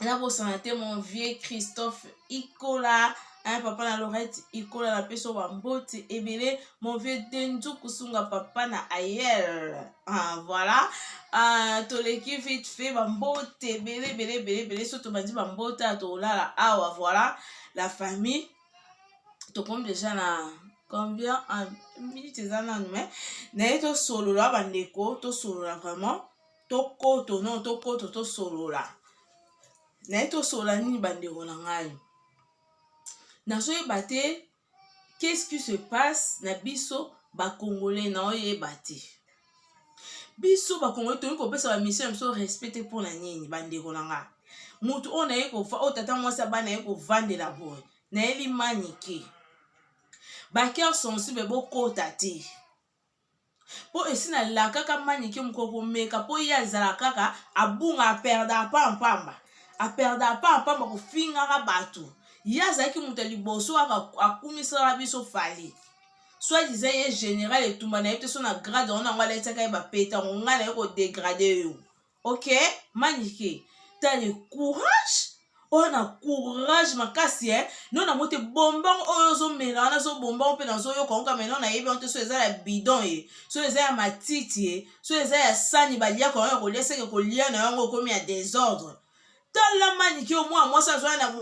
nabosana te mon vieux christophe ikola hein, papa na lorette ikola na peso bambote ebele mon vieux denzu kusunga papa na ayel ah, voilà ah, toleki vite fait bambote ebele ebele ebele ebele so tobandi bambote ya tolala awa voilà la famille tokomi deja na combien en minute eza nanu me naye tosolola bandeko tosolola vraiment tokoto no tokoto tosolola naye tosolola nini bandeko na ngai nazoyeba te qu'est-ce qui se passe na biso bakongole naoyeba te biso bakongole toyei kopesa bamisio ya biso respect te mpo na nini bandeko na ngai motu oyo naye oyo tata mwasi abana naye kovandela boye nayeli manike baker sensible bokota te mpo esi nalakaka manike moko komeka mpo ye azala kaka abunga aperda apa mpamba aperda apa mpamba kofingaka bato ye azalaki moto ya liboso kaka akumisaka biso fali soit diza ye général etumba na ye te so na grade yango nango alataka ye bapeta yango ngai na ye kodegrade yo ok manike tale courage oyo na courage makasi e eh? no nango te bombongo oyo ozomela wana zobombongo mpe nazoyoka yango kameno nayebi yango te so eza ya bidon ye eh? so eza ya matiti ye eh? so eza ya sani baliaka yango ya kolia seke kolia na yango okomi ya desordre tala manike yo mwana mwasi azwai na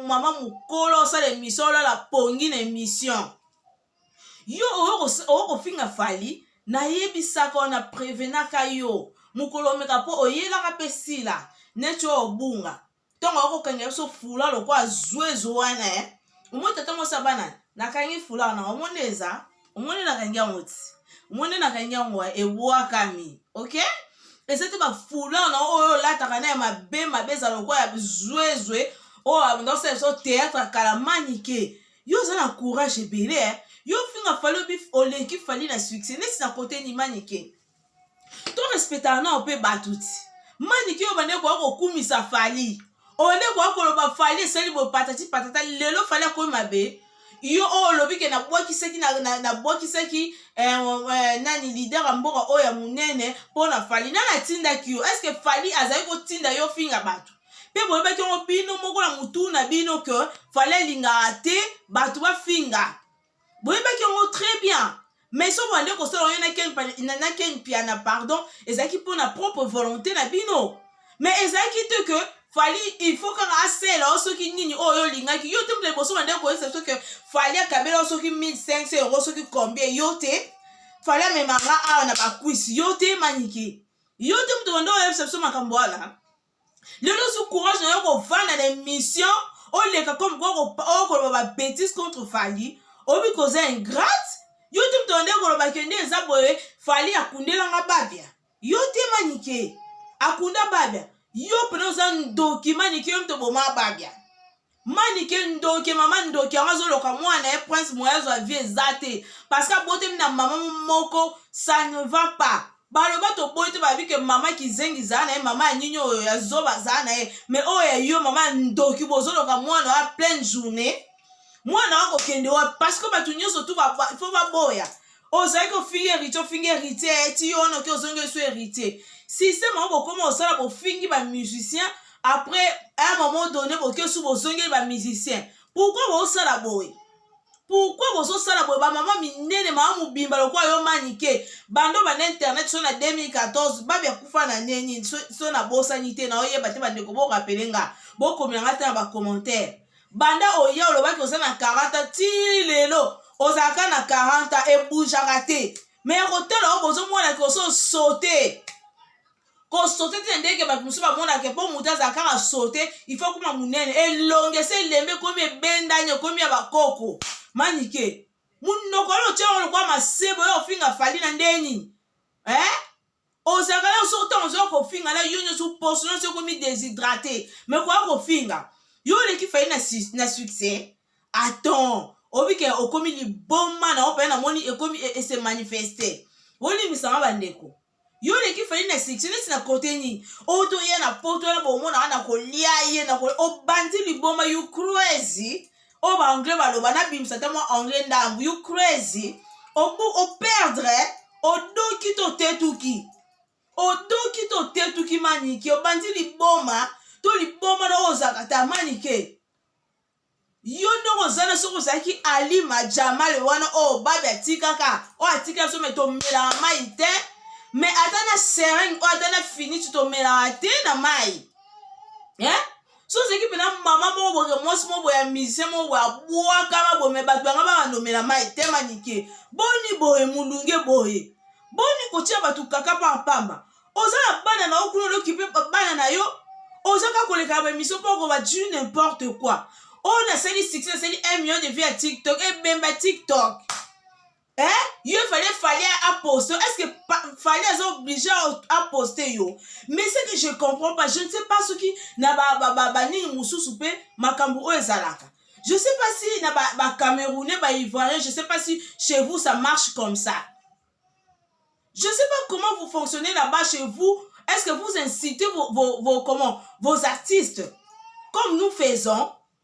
mama mokolo osala emission olala pongi na emission yo okofinga fali nayebisaka wana prevenaka yo mokolo omeka mpo oyelaka mpe sila neti oyo obunga ntongo akokangela biso fula lokola zwezo wana e eh. omoni tata mwasi ya bana nakangi fula wana omoni eza omoni nakangi yango ti omoni nakangi yango eh, ebwakami ok eza te bafula wana oyo olataka na ya mabe mabe eza lokola ya zwezo oyo abanda osala biso théâtre kala manike yo oza na courage ebele eh? yo ofinga fali obi oleki fali na succès neti na kote ni manike to respectaka nao mpe bato ti manike oyo bande koya kokumisa fali ole koya koloba fali esali boye patati patata lelo fali akomi mabe yo oyo olobi ke nabwakisaki nabwakisaki eh, eh, nani lider ya mboka oyo ya monene mpo na fali nani atindaki yo estce fali azali kotinda yo ofinga bato mpe boyebaki yango bino moko na motu na bino ke fale elingaka te bato bafinga boyebaki yango très bien mais soki bande kosala oyo na ken piana pardon ezalaki mpo na propre volonté na bino mais ezalaki te ke fali il faut kaka asela yo soki nini oyo yo olingaki yo te mpe liboso bande koyebisa biso ke fali akabela yo soki 1500 euro soki combien yo te fali amemanga awa na bakwisi yo te manike yo te moto bande oyebisa biso makambo wana lelo osu courage na yo kovanda na émission oleka comme quoi okoloba ba bêtise contre fali oyebi koza ingrate yo te moto nde koloba kende eza boye fali akundelanga babia yo te manike akunda babia yo mpena oza ndoki manike yo moto boma babia manike ndoki mama ndoki yango azoloka mwana ye prince moya azwa vie eza te parce que abotemi na mama moko ça ne va pas baloba toboyi te babi ke mama kizengi zaa na ye mama ya nini oyo ya zoba zaa na ye mais oyo ya yo mama ndoki bozoloka mwana ya pleine journée mwana akokende wapi parce que bato nyonso tu fo baboya ozali kofingi heritier ofingi heritier eti yo wana oke ozongi esu heritier systeme yango bokoma osala bofingi bamusicien après un moment donné boke su bozongeli bamusicien pourkui bosala boye pourkui bozosala boye bamama minene mama mobimba lokola yo manike bando banda internet so na 2014 babi akufa na neni so nabosani te na oyeba te bandeko borapele nga bokomela nga te na bacommentaire banda oye olobaki oza na 40 ti lelo ozalaka na 40 ebujaka te me ya kotala oyo bozomona ke oso sote kosote te ndenge bato mosusu bamonaka mpo moto azala kaka sote ifo akoma monene elongi esi elembe ekomi ebendani ekomi ya bakoko manike monoko oyo otya yango lokola masebo oyo ofinga fali na ndenge nini eh? ozalaka yo soki ntango ozoya kofinga na yo nyonso poso nyonso ekomi deshydrate me koya kofinga yo oleki fai na, na succès aton obike okomi liboma na ope namoni ekomi e, ese manifeste olimbisanga bandeko yo oleki fai na succès neti na kote nini oyo toya na poto wana bomona wana kolia ye na obandi liboma you crazy oyo ba anglais baloba nabimisa ata mwa anglais ndambu you crazy obu operdre odoki to otetuki odoki to otetuki manike obandi liboma to liboma na oyo ozalaka ta manike yo ndongo oza na soki ozalaki alima jamale wana oyo babe atikaka oyo atikaka so me tomelaka mai te me ata na seringe oyo ata na finiti tomelaka te na mai eh? so ozalaki mpena mama moko boke mwasi moko boye ya musicien moko boye abwakama boye me bato yanga bakandomela mai te manike boni boye molunge boye boni kotia bato kaka mpa mpamba oza na bana na yo kuna olokipe bana na yo oza kaka kolekaka baemission mpo okoba du n'importe quoi oyo nasali succès nasali 1 million de vie ya tiktok ebemba tiktok eh yo fallait fallait a poster est-ce que fallait aza obligé a poster yo mais ce que je comprends pas je ne sais pas soki na ba ba ba, ba nini mususu pe makambo oyo ezalaka je sais pas si na ba ba camerounais ba ivoiriens je sais pas si chez vous ça marche comme ça je sais pas comment vous fonctionnez là-bas chez vous est-ce que vous incitez vos vos, vos comment vos artistes comme nous faisons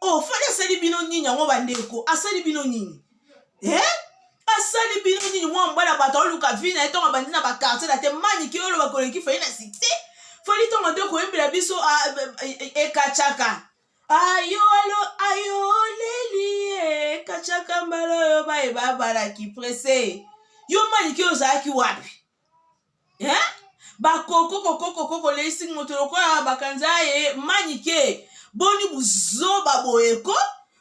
oh fali asali bino nini yango bandeko asali bino nini eh? asali bino nini mwa mobali ya bato aoluka vi na ye ntongo abandi na bakartier na te manike oyo oloba koleki fali na sikse fali ntongo te koyembela biso ah, eh, eh, ekacaka ayolo ayoleli ekacaka mbala oyo baye babalaki prese yo manike oyo ozalaki wapi eh? bakoko kokokoko koleisi moto lokola bakanza ye manike boni buzoba boyeko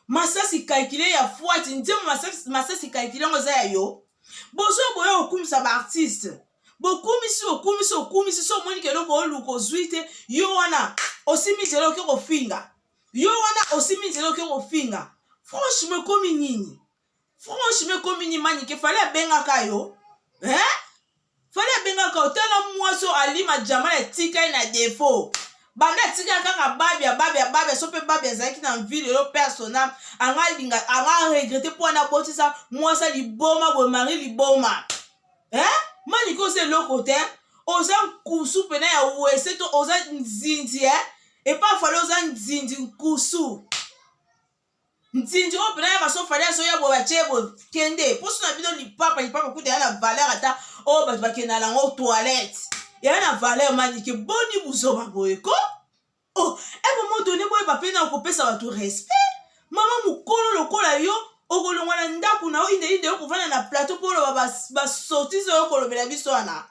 masasi kalkile ya fwati nzembo masasi, masasi kalkile yango eza ya yo bozo boya kokumisa baartiste bokumisi okumisi okumisi so omoni ke eloko oluka ozwi te yo wana osimbi nzela oke kofinga yo wana osimbi nzela oke kofinga franchement ekomi nini franchement ekomi ni manike fale abengaka yo eh? fale abengaka yo tala mwasi oyo alima jama na etika ye na defo banda atikala kaka babi ababi ababi aso mpe babi azalaki na ville yo persona anga alinga anga aregrete mpo wana abotisa mwasi ya liboma boye mari liboma eh? manike oza eloko te oza nkusu mpena ya wese to oza nzinzi eh? epa fale oza nzinzi nkusu nzinzi oyo mpena ya maso fali azoya boye batye boye kende mposo na bino lipapa lipapa kuta ya na valeur ata oyo bato bakenda nango toilette eya na valeur manike boni buzoba boye ko o oh, ebe eh, modone boyeba mpe na okopesa bato respect mama mokolo lokola yo okolongwa na ndako na yo indeinde yo kovanda na plateau mpo oloba basortise oyo kolobela biso wana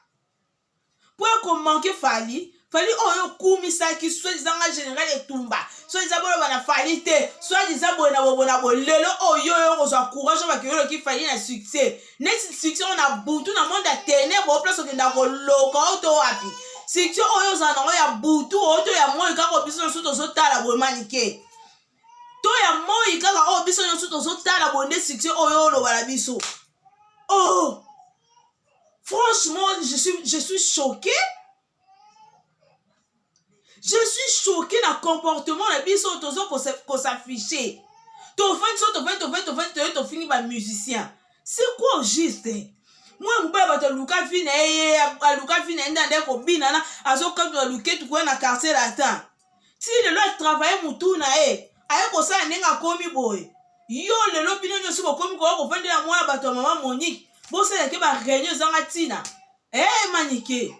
mpo ya komanke fali fali oyo okumisaki soki eza nga général etumba soki eza boloba na fali te soki eza boye na bobo na bolelo oyo oyo okozwa courage oyo bakiyoloki fali na succès neti succès oyo na butu na monde ya tenebre oyo place okenda koloka oyo to wapi succès oyo ozala nango ya butu oyo to ya moi kaka biso nyonso tozotala boye manike to ya moi kaka oyo biso nyonso tozotala boye nde succès oyo oloba na biso oh Franchement, je suis, je suis choqué. Je suis choqué na comportement na biso tozo ko s'afficher. To vent so to vent to vent to vent to to fini ba musicien. C'est quoi au juste? Moi mobali bato aluka vie na ye aluka vie na ye nde ande kobina na azokabila luketu koya na quartier latin ti lelo atravaille mutu na ye aye kosala ndenge akomi boye yo lelo bino nyonso bokomi koya kovandela mwa ya bato ya mama monique bosalake bareunion ezanga ntina e eh, manike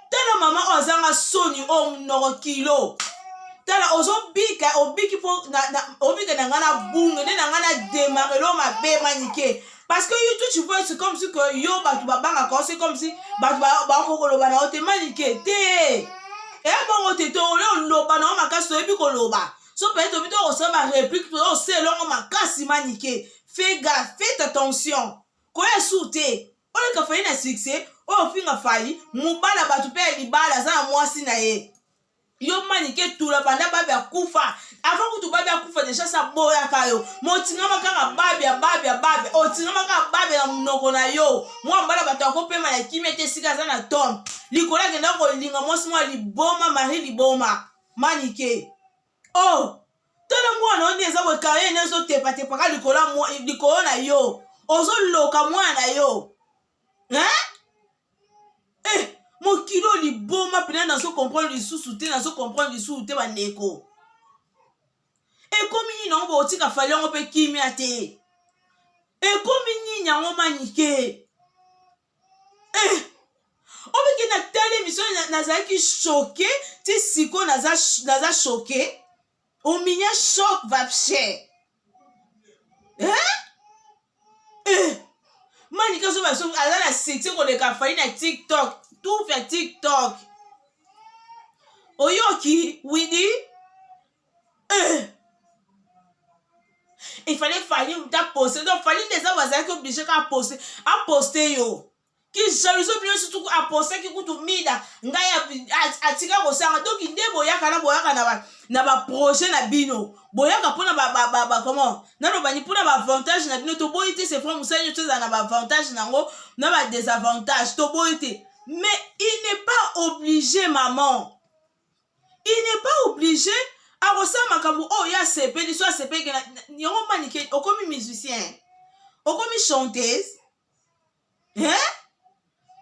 tala mama oyo azanga soni oyo oh, monoko kilo tala ozobika obiki mpo obika na ngai na bunge nde na ngai na demarelo mabe manike parce que yo tout tu vois c'est comme si que yo bato babangaka yo c'est comme si bato bakokoloba na yo te manike te ebongo te to yo loba na yo makasi toyebi koloba so peut-être obi to kosala ba réplique to ose elongo makasi manike fais gaffe faites attention koya su te oleka fali na succès oyo ofinga fali mobala bato mpe ya libala aza na mwasi na ye yo manike tula banda babi akufa avant kutu babi akufa deja sa boyaka yo motingama kaka babi ya babi ya babi otingama kaka babi na monoko na yo mwa mbala bato akopema na kimia te esika aza na tome likolo akenda kolinga mwasi mwa liboma marie liboma manike o oh, tala mwana oyo nde eza boye kaye ne ezotepatepaka likolo na yo ozoloka mwana na yo hein? eh mokili oyo liboma mpena nazo comprendre lisusu te nazo comprendre lisusu te bandeko ekomi nini yango bokotika fali yango mpe kimia te ekomi nini yango manike eh obiki na tali emission nazalaki choke ti sikoyo naza choke ominya choc vapcher manika zoba so aza na succès koleka fali na tiktok tout ya tiktok oyoki widi eh. efale fali ta poste donc fali nde eza bazalaki oblige ka poste aposte yo kijaluzo bino sutu apostaki kutu mida ngai atika kosanga donc nde boyaka na boyaka na baprojet na bino boyaka mpona comment nalobani mpona baavantage na bino toboyi te c'est vrai mosali nyonso ezala na baavantage na yango na badesavantage toboyi te mais il n'est pas obligé maman il n'est pas obligé akosala makambo oyo oh, ye asepeli so asepeli yango manike okomi musicien okomi chanteuse eh?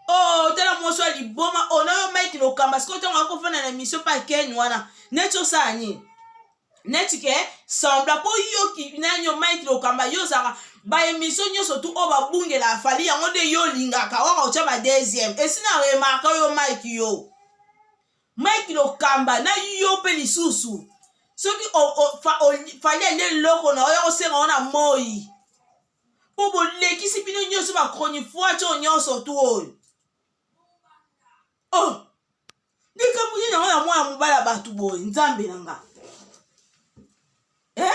oh tala mwasi ya liboma oh na yo mike lokamba sikoyo ntango akofanda na emission pa ken wana neti osala nini neti ke sembla mpo yoki nani yo mike lokamba yo ozalaka baemission nyonso tu oyo babungela afali yango nde yo olingaka waka otya ba deuxième esi na remarka yo mike yo mike lokamba na yo mpe lisusu soki fali ande eloko na oyo osenga ngo na moi mpo bolekisi bino nyonso bachronifuati oyo nyonso tu oyo oh likambo nini yango ya mwana mobali ya bato boye nzambe na nga eh?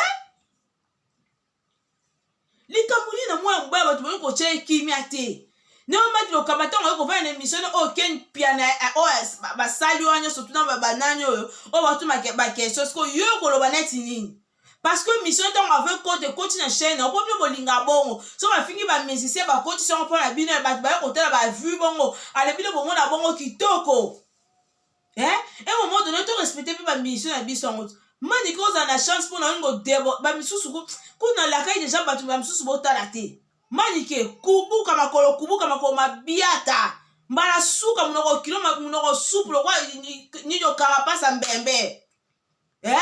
likambo nini na mwana mobali ya bato boye kotya ye kimia te neomaki lokamba ntango oyo kovanda na emission oyo oh, ken piana eh, oyo oh, basali wana nyonso tuna banani oyo oyo oh, batuna bakestion sikoyo yo koloba neti nini parce que mission ntango ave kote ekoti na chaine yango mpo bino bolinga bongo so bafingi bamusicien bakotisi yango mpo na bino ya bato baye kotala bavue bongo ale bino bomona bongo kitoko eh? e momo done torespecte mpe bamission na biso yango mani ke ozala na chance mpo na olingo debo bamisusu kuna lakai deja bato bamisusu botala te mani ke kubuka makolo kubuka makolo mabiata mbala suka monoko kilo monoko supu lokola nini okara mpasa mbembe eh?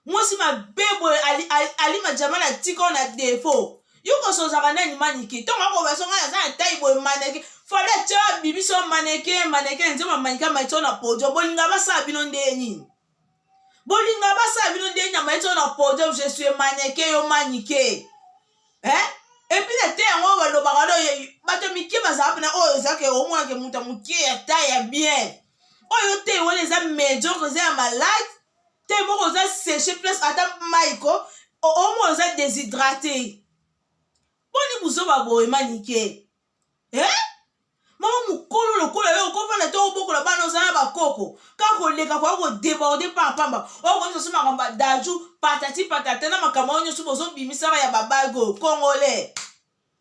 mwasi mabe boye ali, ali, ali majama na tika ona defo yo koso ozaka nani manike ntongo akobaso ngai naza na tai boye manike fale tya bibiso manike manike nzema manike amaitio na podio bolinga basala bino ndeye nini bolinga basala bino ndeye nini amaitio na podio je suis manike yo manike eh? epuis na te yango balobaka no bato mike bazala mpena oyo ezake omonake moto ya moke ya tai ya bien oyo te wana eza mediocre eza ya malade te moko oza seche place ata mai ko omona oza deshydrate boni buzoba boye manike eh? mama mokolo lokola yo okofanda te obokola bana oza na bakoko kaka koleka koya kodeborde pampamba okoyebisa so makambo ya daju patati patata na makambo yango nyonso bozobimisaka ya babage oyo kongole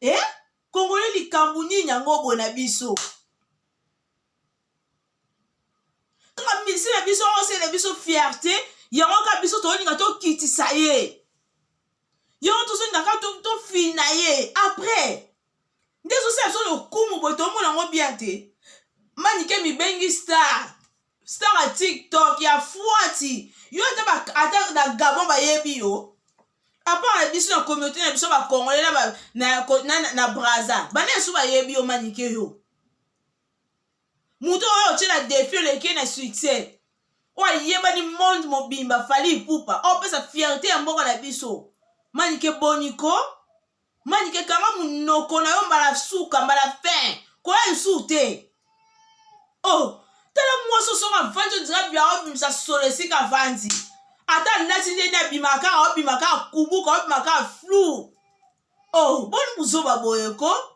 eh? kongole likambo nini yango boye na biso kaka misi na biso osele biso fierte yango kaka biso tolinga tokitisa ye yango tozolinga kaka tofina ye après nde ezosala biso lokumu boye tomona yango bien te manike mibengi star star ya tiktok ya fuati yo ata na gabon bayebi yo apart na biso na communauté na biso bacongolais na, na, na, na, na braza bana esu bayebi yo manike yo moto oyo otyela defi oleki ye na succès oyo ayebani monde mobimba fali ipupa opesa fierte ya mboka na biso manike boniko manike kanga monoko na yo mbala suka mbala fin koya lisusu te o oh, tala mwasi osonga vanzi ondira bya obimisa solo esika vanzi ata alati nde nde abimaka kaka obima kaka kubuka obima kaka flou oh boni buzoba boye ko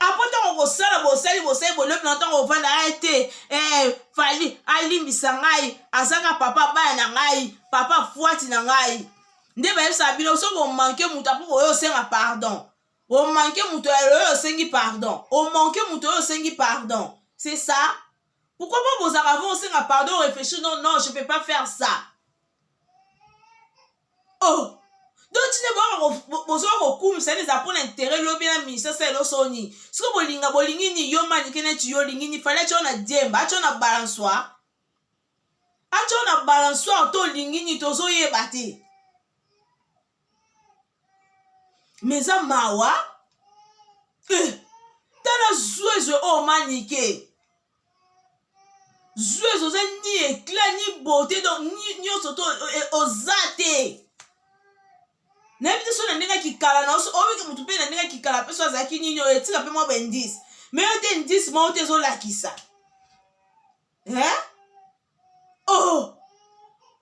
apo ntango kosala bosali bosali bolebi na ntango ovanda ye te eh, fali alimbisa ngai azaka papa bana na ngai papa fwati na ngai nde bayebisaka bino soki omanke moto apo oyo osenga pardon omanke moto oyo osengi pardon omanke moto oyo osengi pardon c'est ça pourquoi pas bozaka vo osenga pardon réfléchir non non je peux pas faire ça oh donc tine bozoka kokumisa ene eza mpona intere lobi na ministre sa elo soni soki bolinga bolingi ni yo manike neti yo olingi ni fali atyo na diemba atyo na balansoire atyo na balansoire to olingi ni tozoyeba te me eza mawa eh, tala zwezwe oyo oh, manike zuezo oza ni eclat ni beauté donc nyonso to eh, oza te nayebi te so na ndenge ya kikala na oso oyebike motu mpe na ndenge ya kikala mpe so azalaki nini oyo etika mpe mwa baindice me yo te indice moko te ezolakisa eh? oh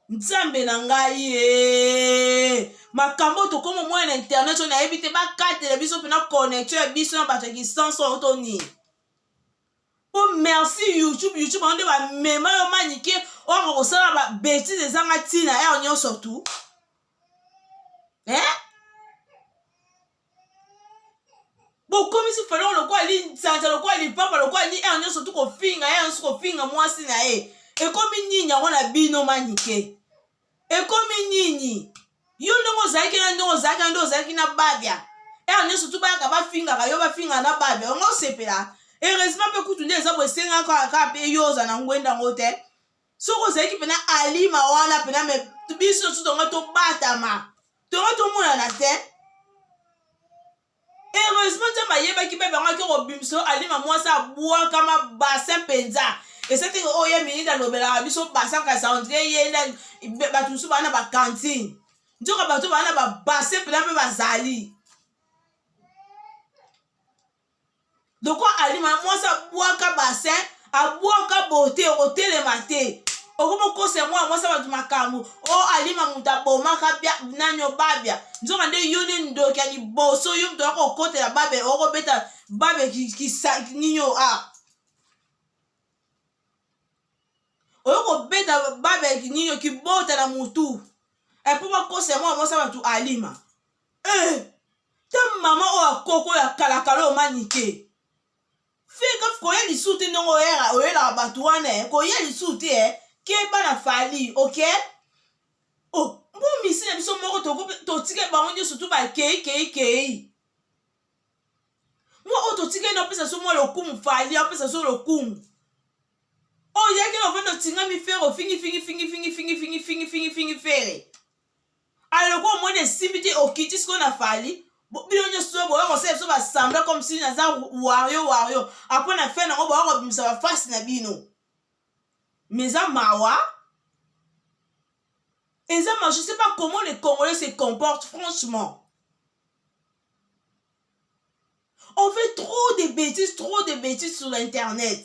nzambe na ngai eh. makambo oyo tokoma omona na internet oyo nayebi te bakatela biso mpena connexion ya biso na bato ya kisanso oyo to nini po merci youtube youtube yango nde bamema yo manike oyoka kosala babetise ezanga ntina ere eh, nyonso tu eh? bokomisi falongo lokola linsanza lokola lipapa lokola ni ere eh, nyonso tu kofinga ere eh, nyonso kofinga mwasi na ye ekomi nini yango na bino manike ekomi nini yo ndenge ozalaki na ndenge ozalaki na nde ozalaki na babia ere nyonso tu bayaka bafingaka yo bafingaka na babia yango osepela heureusement mpe kutu nde eza boesengaka kaka mpe yo oza na ngwenda yango te soki ozalaki mpena alima wana mpena me biso nyonso tonga tobatama tonga tomonana te heureusement nzambe ayebaki bebe yango ake kobimisa yo alima mwasi abwakama basin mpenza ese teke oyo ye mingi alobelaka biso basin kasi andre ye bato mosusu baa na bakantine nzoka bato baa na babasin mpenza mpe bazali doko alima mwasi abwaka basin abwaka bote okotelema te okomi okosa yango ya mwasi ya bato makambo o oh, alima moto abomaka nani obabya nzoka nde yo nde ndoki ya liboso yo moto akokotela babe okobeta babe nini o a ah. oyo kobeta babe nini okibota na motu epo bakosa yango ya mwasi ya bato alima eh ta mama oyo akoko ya kalakala oyo manike fika koya lisu te ndenge oyelaka bato wana eh. koya lisu te eh. keba na fali ok oh, mpo misi na biso moko totika bango nyonso tu bakei kei kei mwa oyo totika ene opesa so mwa lokumu fali apesa so lokumu oyaki na ofanda otingami fere ofingifingifingifingifingifingifingifingi fere aloko omoni esimbi te okiti sikoyo na fali bino nyonso boya kosala biso basembla comme si naza wario wario apres na fin nango boya kobimisa bafasi na bino mais eza mawa eza ma je sais pas comment les congolais se comportent franchement on fait trop de bêtises trop de bêtises sur l'internet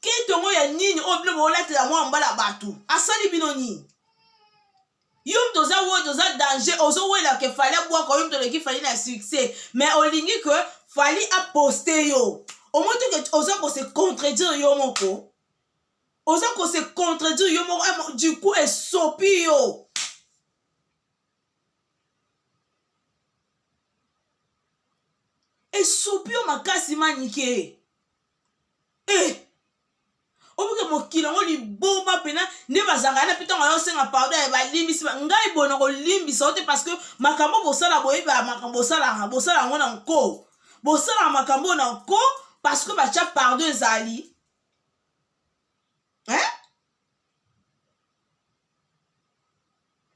ketongo ya nini oyo bino bolatela mwa mbala bato asali bino nini yo moto oza wodi oza danger ozowela ke fali abwaka yo moto oleki fali na succès mais olingi ke fali aposte yo omoto ke oza kose contredire yo moko oza kose contredire yo moko eh, du coup esopi yo esopi yo makasi manike eh obuke mokili yango liboma mpena nde bazalaka na mpe ntango ayosenga pardon ya balimbisi ngai boye nakolimbisa yo te parce que makambo bosala boyeba makambo bosalaka bosala yango na nko bosalaka makambo na nko parce que batya pardon ezali eh?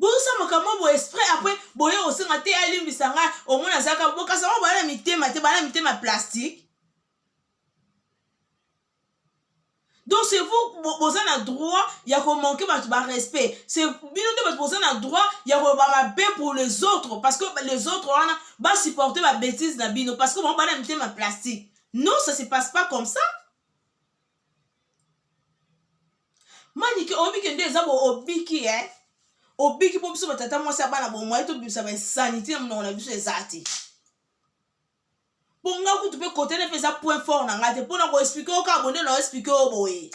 boyosa makambo bo esprit après boye osenga te alimbisa ngai omona azalaka bokasa ngo bana mitema te bana mitema plastique donc c'est vous boza na droit ya komanke bato barespect c'est bino nde bato boza na droit ya koloba mabe pour les autres parce que les autres wana basupporte babétise na bino parce que bango bana mitema plastique non ça se passe pas comme ça manike oyebi kende eza bo obiki e eh? obiki mpo biso batata mwasi ya bana bomwai tobimisa bainsanité na monoko na biso eza te mpo nga kutu mpe kote ne mpe eza point fort na ngai te mpo na koexplike yo kaka bonde na oexplike yo boye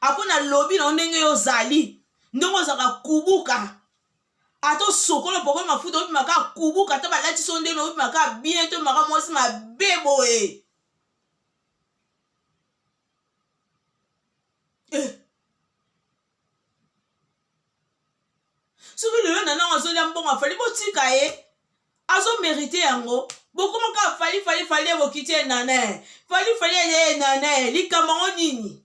apo na lobi na yo ndenge yo ozali ndenge ozalaka kubuka ata osokola pokoli mafuta obima kaka kubuka ata balati so ndenge obima kaka bien to maka mwasi mabe boye eh. soki lelo na nango azolia mbongo afali botika ye azomerite yango bokoma kaka fali fali fali ye bokiti ye nana fali fali ye nana likambo yango nini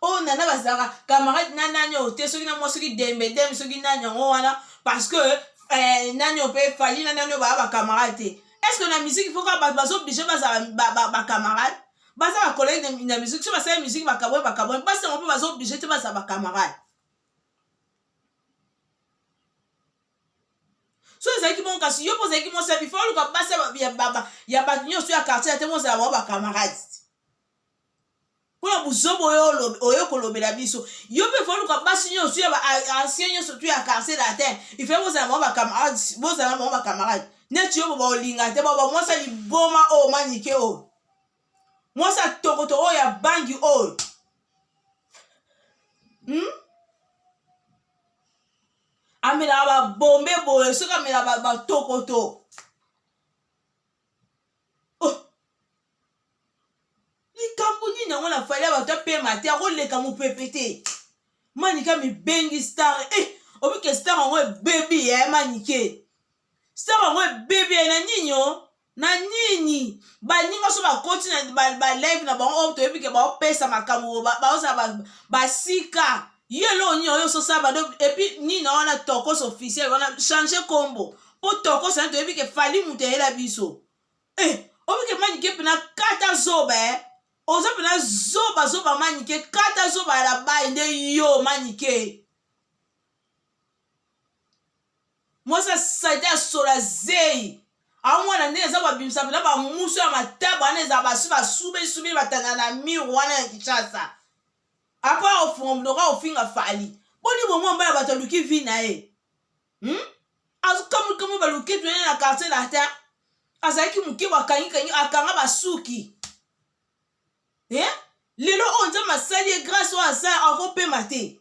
oyo nana bazalaka camarade na nani oyo te soki na mwa soki dembe dembe soki nani yango wana parce que eh, nani oyo mpe fali na nani oyo baa bacamarade te est ce que na musiki fo kaka bato bazoblige bazala bacamarade baza bakolege na musiki so basali musiki bakabwe bakabwe basi yango mpe bazoblige te bazala bacamarade so ezalaki bongo kasi yo mpo ozalaki mwasi ya bifa oluka basi ya bato nyonso ya quartier ya te mozala bango bacamarade mpo na buzobo oyo kolobela biso yo mpe foluka basi nyonso ya baancien nyonso tu ya quartier latin ifa bozala bango bacamarade bozala bango bacamarade neti yo boba olinga te bao bamwasi ya liboma oyo manike oyo mwasi ya tokoto oyo ya bangi oyo hmm? amelaka babombe boye soki amela batokoto oh. likambo nini yango na fali ya bato apema te akoleka mopepe te manike mibengi star e eh, obike star yango ebebi ya eh, manike star yango ebebi ya eh, na nini o oh? na nini baninga nyonso bakoti na baleve na bango oyo toyebi ke baopesa makambo baozala basika ye eloko nini oyo ososala bado epuis nini na wana tokos officiel wana change kombo mpo tokos na toyebi ke fali moto eyela biso eh, obike manike mpena kata zoba eh. oza mpena zoba zoba manike kata zoba ya labai nde yo manike mwasi ya salite ya solo ya zeyi aomona ndenge eza babimisa mpena bamuso ya mataba wana eza basi basubesubeli batanda na mur wana ya kinshasa apa aofunga monoko aofinga fali boni bomwa mbala bato aluki vi na ye hmm? azokamwikamwi baluki tene na quartier latin azalaki moke bakangikangi akanga basuki eh? lelo oyo nzambe asali ye grâce oyo asala akopema te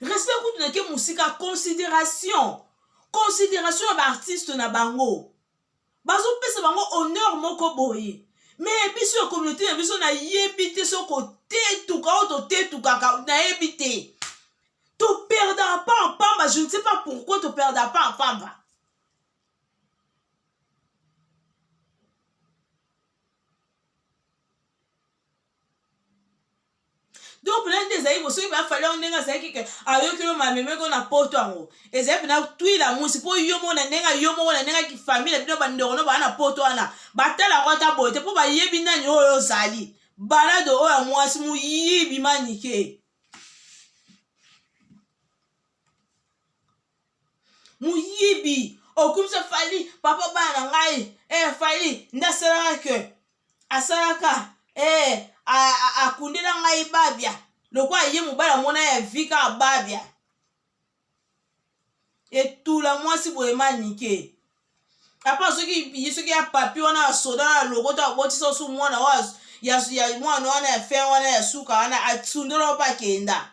respect kutu nake mosika consideration consideration ya baartiste na bango bazopesa bango honneur moko boye me biso ya communauté na biso nayebi te soki otetuka oyo totetukaka nayebi te toperdaka pa mpamba je ne sais pas pourquoi toperdaka pa mpamba donc mpena nde ezali bosoki bafali yango ndenge azalaki ke ayoki yo mamemeko na poto yango ezali mpena twila mwisi mpo yo moko na ndenge yo moko na ndenge kifamile na bino bandeko no baa na poto wana batala yango ata boye te mpo bayebi nani oyo ozali balado oyo ya mwasi moyibi manike moyibi okumisa fali papa bana na ngai eh, fali nde asalaka ke asalaka eh, akundela ngai babia lokola ye mobali amona ya vi kaka babia etula mwasi boye manike apa soki ye soki ya papi wana ya soda na lokota abotisa osu mwana oyo ya mwana wana ya fin wana ya suka wana asundela opa akenda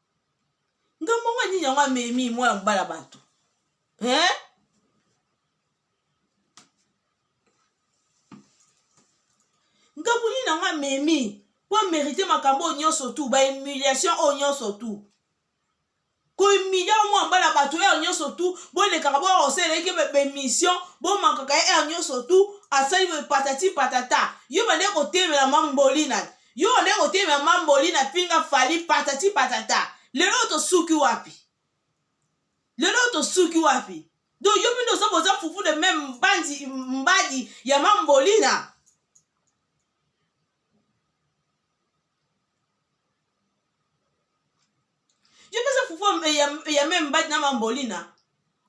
nga mbongo nini yango amemi mwana mobali ya bato eh? ngambo nini yango amemi mpo amerite makambo oyo nyonso tu bahumiliation oyo nyonso tu kohumilia mwa mbala bato ere nyonso tu bolekaka bokosalelaki bemission bomankaka ye ere nyonso tu asali boye patati patata yo bande kotemela mambolina Yo nde kotemi ya mamboli na pinga fali patati patata. Lelo tosuki wapi? Lelo tosuki wapi? Donc yo mino ozo boza fufu de même mbandi mbadi ya mambolina. yo pesa fufu ya me mbadi na mambolina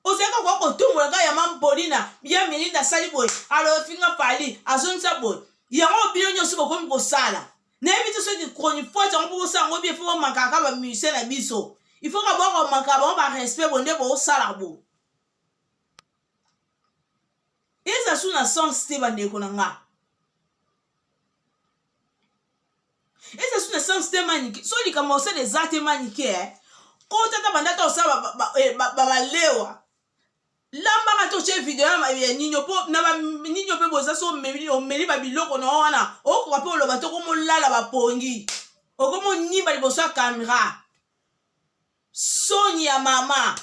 ozalaka koka kotumbola kaka ya mambolina ya melinda asali boye alofinga pali azongisa boye yango bino nyonso bokomi kosala nayebi te soki chronifoite yango mpo bosala yango bie fo bomakaka bamusicien na biso ifoka bokomaka bango barespect bo nde bosala bo eza su na sens te bandeko na ngai eza su na sens te manike so likambo osala eza te manike eh. kota ta banda ta osala babalewa eh, lambaka to tye video ya ninyo mpo na ninyo mpe boza so omeli babiloko na yo wana okoka mpe oloba te okomolala bapongi okomonyimba liboso ya kamera soni ya mama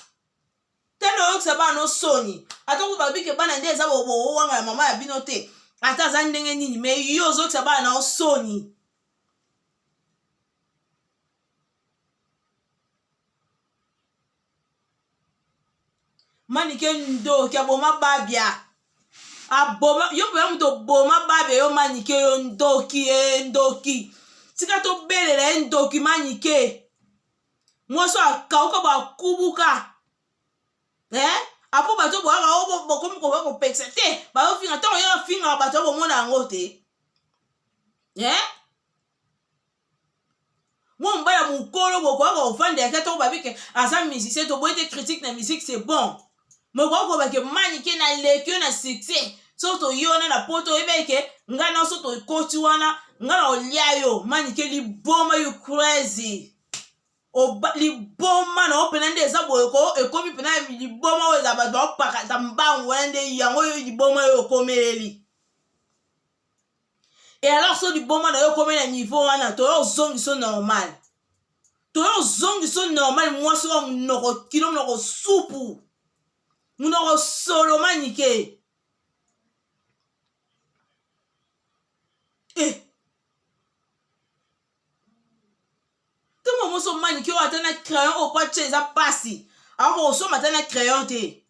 tende oyokisa bana no soni ata ko babike bana nde eza bowanga ya mama ya bino te ata aza ndenge nini me yo ozokisa bana nao soni manike ndoki aboma babia aboma yo mpenza moto oboma babia yo manike yo ndoki e ndoki tika tobelela ye ndoki manike mwasi oyo akauka bakubuka eh? apo bato boyaka bokomi koba kopekisa te bayofinga ntango yo afingaka bato ya bomona yango te eh? mwa mobala mokolo bokoyaka kofanda yaka ntango babike aza musicien toboyi te critique na musique c'est bon mais okoki koloba ke manike naleki yo na succès soki toye wana na poto oyebaki ke ngai na soki tokoti wana ngai na olia yo manike liboma you crazy Oba, liboma na yo mpena nde eza boye ko ekomi mpena liboma oyo eza bato baopakata mbangu wana nde yango yo liboma yo okomeleli e alors so liboma na yo okomi na niveau wana toyo ozongiso normal toyo ozongiso normal mwasi oyo monoko kilo monoko supu monoko soloma nike eh. ntango moso manike oyo ata na crayon oyo kwatya eza mpasi akoka kosomba ata na crayon te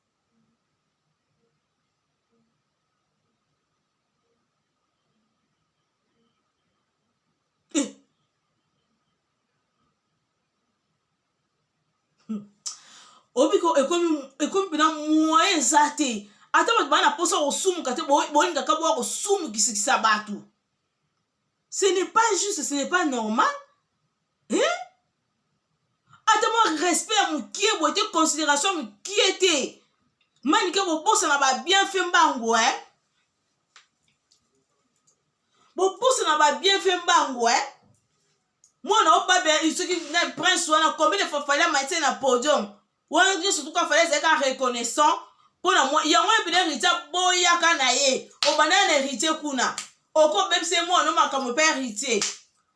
obi ko ekomi ekomi mpena moyen eza te ata bato baa na mposa kosumuka te bolingaka boya kosumukisisa bato ce n'est pas juste ce n'est pas normal eh? ata mwa respect ya mokie boye te considération mokie te manike bobosana babienfait mbangu e eh? bobosana babienfait mbangu e eh? mwana obabe soki na prince wana combien de fois fali amatie na podium wana nde surtout ka fallait ezalaka reconnaissant mpo na mwa yango wana mpena heritier aboyaka na ye obandaka na heritier kuna okobebisa ye mwana no makambo mpe heritier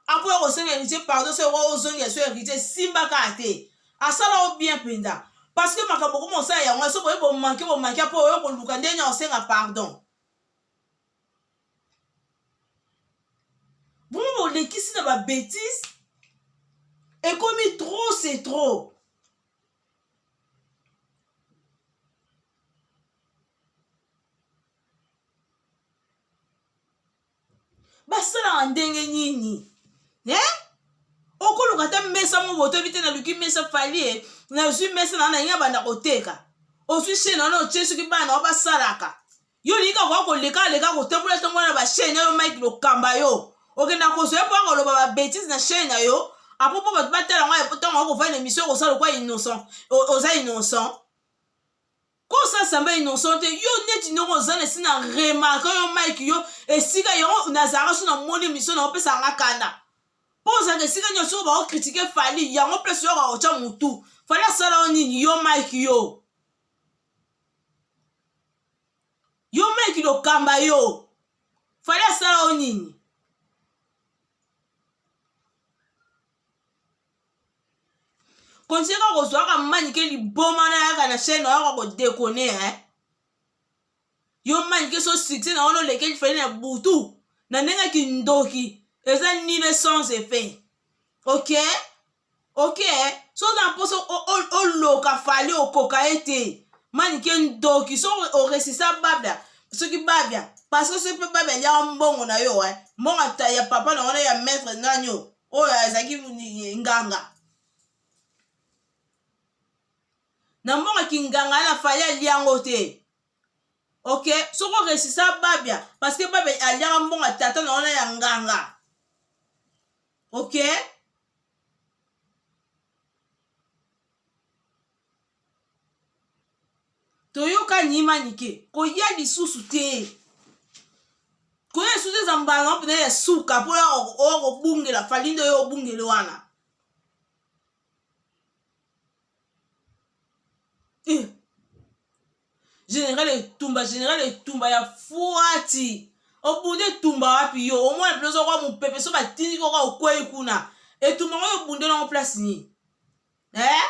akoya kosenga heritier pardon so okoki ozongela so heritier esimbaka te asala o bien mpenza parce que makambo okoma osala yango so boye bomanke bomanke mpo oyo koluka ndenge na osenga pardon vraimen bolekisi na babetise ekomi trop c'est trop basalaka ndenge nini eh? okoluka ata mesa moko botobi te naluki mesa falie nazwi mesa na nainga banda koteka ozwi shene wana otie soki bana wa basalaka yo olingi kaka koya koleka leka kotambola tambola na bashene na yo mike lokamba yo okenda kozwa ye mpo akoloba babetise na shene na yo apo mpo bato batala ngai po ntango akofai na emission okosala lokwa innocent oza innocent ko osasamba innocent te yo neti ndoko oza na esina remarke yo mike yo esika yango nazalaka so namoni emission na opesaka nga kanda mpo ozalaka esika nyonso soko bakokritike fali yango mpe soyoka kotya motu fali asala yo nini yo mike yo yo meki lokamba yo fali asala yo nini kontinue kozwaka manike liboma na yaka na chaine oyaka kodekone eh? yo manike so succès na wana olekeli fali na butu na ndenge kindoki eza nini sans effet okay oke eh? so oza na mposa oloka fali okoka ye te manike ndoki so oresisa babia soki babia parceke soki mpe babia aliaka mbongo na yo eh? mbongo ya papa na wana ya maître nani oyo oyo azalaki nganga na mbongo kinganga na fali alia yango te ok soki oresisa babia parceke babia aliaka mbongo tata na wana ya nganga ok toyoka nyima nike koya lisusu te koya lisusu eza mbala mpena ya suka mpo oya okobungela fali nde oyo obungele wana eh. general etumba general etumba ya fuati obunda etumba wapi yo omona mpenza okoka mopepe so batindi koka okwei kuna etumba ngo obundela yango place nini eh?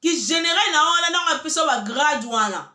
kigeneral na wana ntango apesa bagrade wana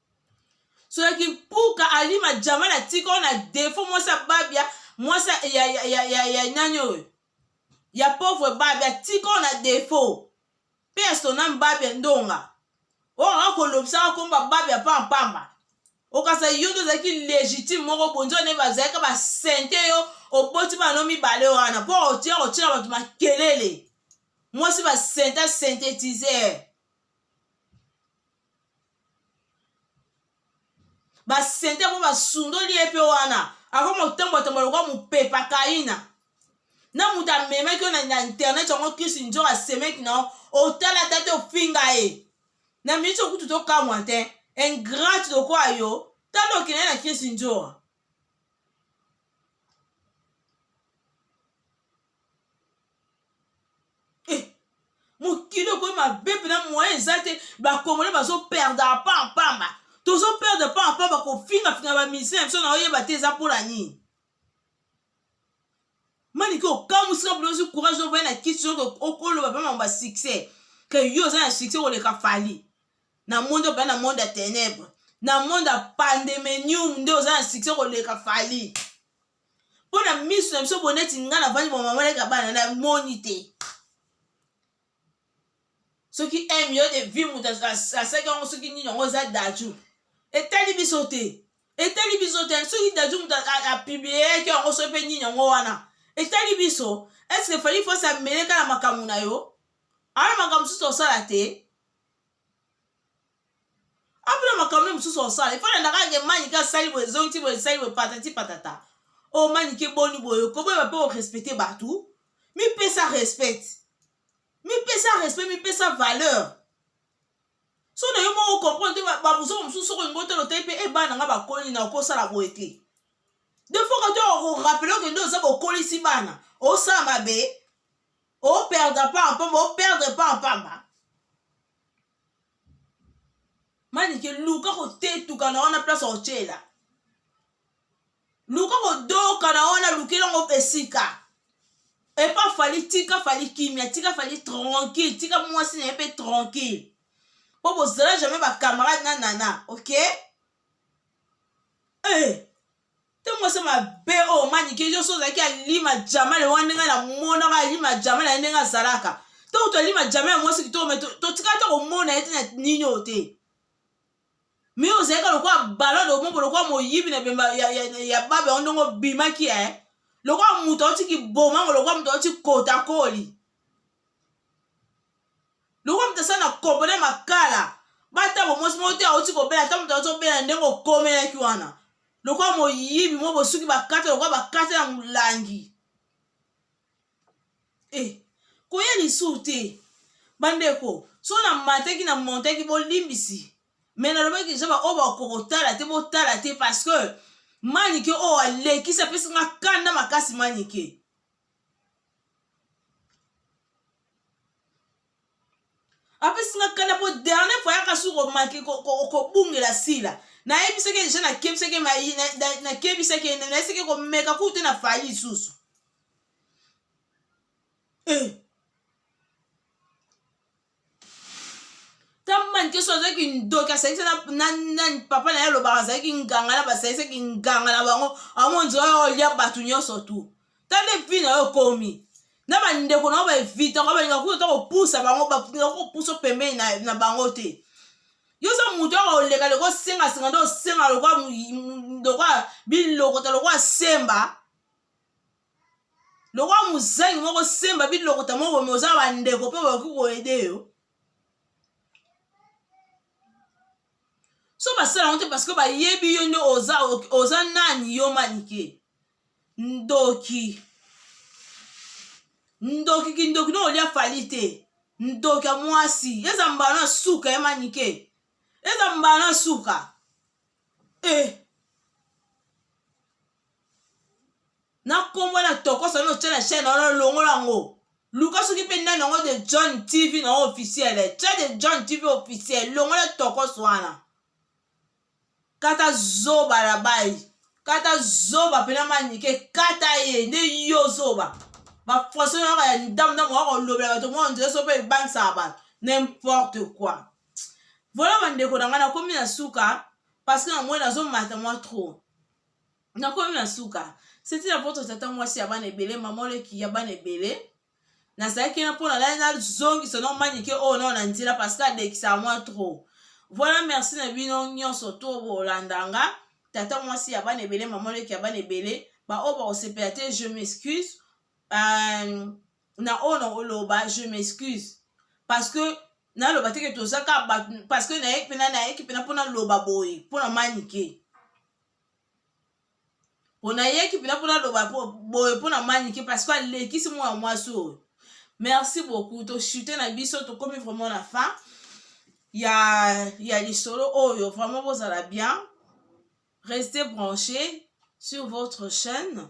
soki mpuka alima jamal atika ona defo mwasi ya babia mwasi ya, ya, ya, ya, ya, ya nani oyo ya pauvre babia atika ona defo mpe ya sona mbabia ndonga oyo anga kolobisaka nkomba babia mpa mpamba okasa yo nde ozalaki légitime moko bonzi wana bazalaka basente yo oboti bano mibale wana mpo otia kotyela bato makelele mwasi basenta synthétiseur basente yango basundoli ye mpe wana akomi kotambotambo lokola mopepa kaina na moto amemaki yo na internet yango kisi njo asemeki na otala ata te ofinga ye na miniti okutu tokamwa te ingrate lokola yo tala okende na kisi njoa eh, mokili okoyi mabe mpena moyen eza te bakongole bazoperdre apampamba tozoperdre apampamba kofingafinga bamisien ya biso na oyeba te eza mpo na nini manike okamwisi na bodozi courage ovai na kisi oke okoloba mpe mambo ya succès ke yo oza na succès koleka fali na monde ope na monde ya ténèbre na monde ya pandemenium nde oza na succès koleka fali mpo na miso na biso boneti ngai navandi bomamaleka bana namoni te soki un million de vie moto asaki yango soki nini yango eza daju etali biso te etali biso te soki daju moto apiblieyaki yango so mpe nini yango wana etali biso eske fali fosi ameleka na makambo na yo ana makambo mosusu osala te apres makambo nde mosusu osala ifo nandaka yake manike asali boye ezongi ti boye esali boye patati patata o oh, manike boni boye okoboyeba mpe orespecte bato mipesa respect mipesa respect mipesa valeur so na yo moko okomprendre te babuzoko mosusu soko olingi otala otali mpe ebana eh, nga bakoli na okosala boye te defoka to okorapele okende oza bokolisi bana osala mabe operdre pa mpamba operdre pa mpamba manike luka kotetuka na wana place otyela luka kodoka na wana lukela ngo esika epa fali tika fali kimia tika fali tranquille tika mwasi na ye mpe tranquille mpo bozala jamai bacamarade na nana ok hey. Eh! ntango ose mabe oyo oh, manike yoso ozalaki alima jamale wana ndenge namonaka alima jamale ya ndenge azalaka ntango tolima jamale ya mwasi kitoko me totikala to komona ye te na nini oyo te me ozalaka lokola balade omoko lokola moyibi na bemba ya babe yango ndenge obimaki e eh? lokola moto auti kibomango lokola moto auti kotakoli lokola moto asali na kopo na makala batabo mwasi moko te auti kobela ata moto azobela ndenge okomelaki wana lokola moyibi mo bosuki bakata lokola bakata ya molangi e eh, koya lisusu te bandeko so namataki na montaki bolimbisi me nalobaki deja baoyo bakoka kotala te botala te parce que manike oyo alekisi apesi nga kanda makasi manike apesi nga kanda mpo dernier fois yaka suki komaki kobungela sila nayebisaki deja nakebisaki nakebisaki ene nayesaki komeka kutu te na fali lisusu eh. tamani keso azalaki ndoki asangisa nani papa na ye alobaka azalaki nganga na basangisaki nganga na bango amonzi oyo olya bato nyonso tu tande vi na yo okomi na bandeko na yo baevita ngo balinga kuta ta kopusa bango balinga kopusa pembeni na bango te yo oza moto yaka oleka loko osengasenga nde osenga lokola bilokota lokola semba lokola mozangi moko semba bilokota moko bomi oza bandeko mpe bakoki koyede yo so basala yango te parceke bayebi yo nde oza, oza nani yo manike ndoki ndoki kindoki no olya fali te ndoki ya mwasi eza mbala na suka ya manike eza mbala na suka e eh. na nkombo na tokosa no otya na chaine wana longola yango luka soki mpe nani yango de john tv na yango officiel tya de john tv officiel longola tokosa wana kata zoba na bai kata zoba mpena manike kata ye nde yo zoba bafrançai na yaka ya ndambo ndambo kaka olobela bato mwa nzela so mpe ebangisaka bato n'importe quoi vola bandeko na ngai nakomi na suka parce que namoni nazomata mwa trop nakomi na suka seti na poto tata mwasi ya bana ebele mama oleki ya bana ebele nazalaki na mpona nai nazongisa no manike oyo nao na nzela parceke adekisa mwa trop voilà merci na bino nyonso to bolanda nga tata mwasi ya bana ebele mama oleki ya bana ebele baoyo bakosepela te je m'excuse euh, na oyo na oloba je m'excuse parce que naloba teke tozaka bato parce que nayeki mpena nayeki mpena mpo naloba boye mpo na manike mpo nayeki mpena mpo naloba boye mpo na manike parce que alekisi mwana mwasi oyo merci beaucoup toshute na biso tokomi vraiment na fin ya, ya lisolo oyo vraiment bozala bien restez branché sur votre chaîne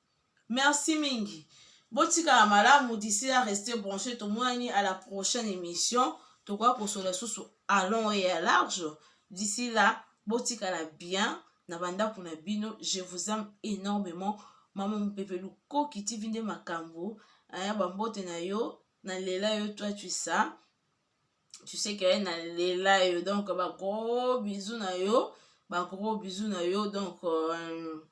Merci mingi. Botikala malamu d'ici là rester branché tomonani à la prochaine émission. Tokoya kosola susu à long et à large. D'ici là botikala bien na bandako na bino. Je vous aime énormément. Maman Mupepe Lukoki TV nde makambo. Aya bambote na yo na lela yo toi tu ça. Tu sais que na lela yo donc ba gros bisous na yo, ba gros bisous na yo donc euh,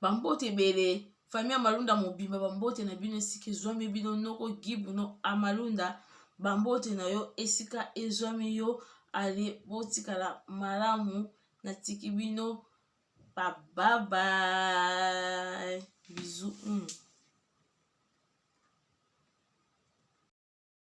bambote ebele fami ya malunda mobimba bambote na bino esika ezwami bino noko gibu no amalunda bambote na yo esika ezwami yo ale botikala malamu natiki bino bababai bizu mm.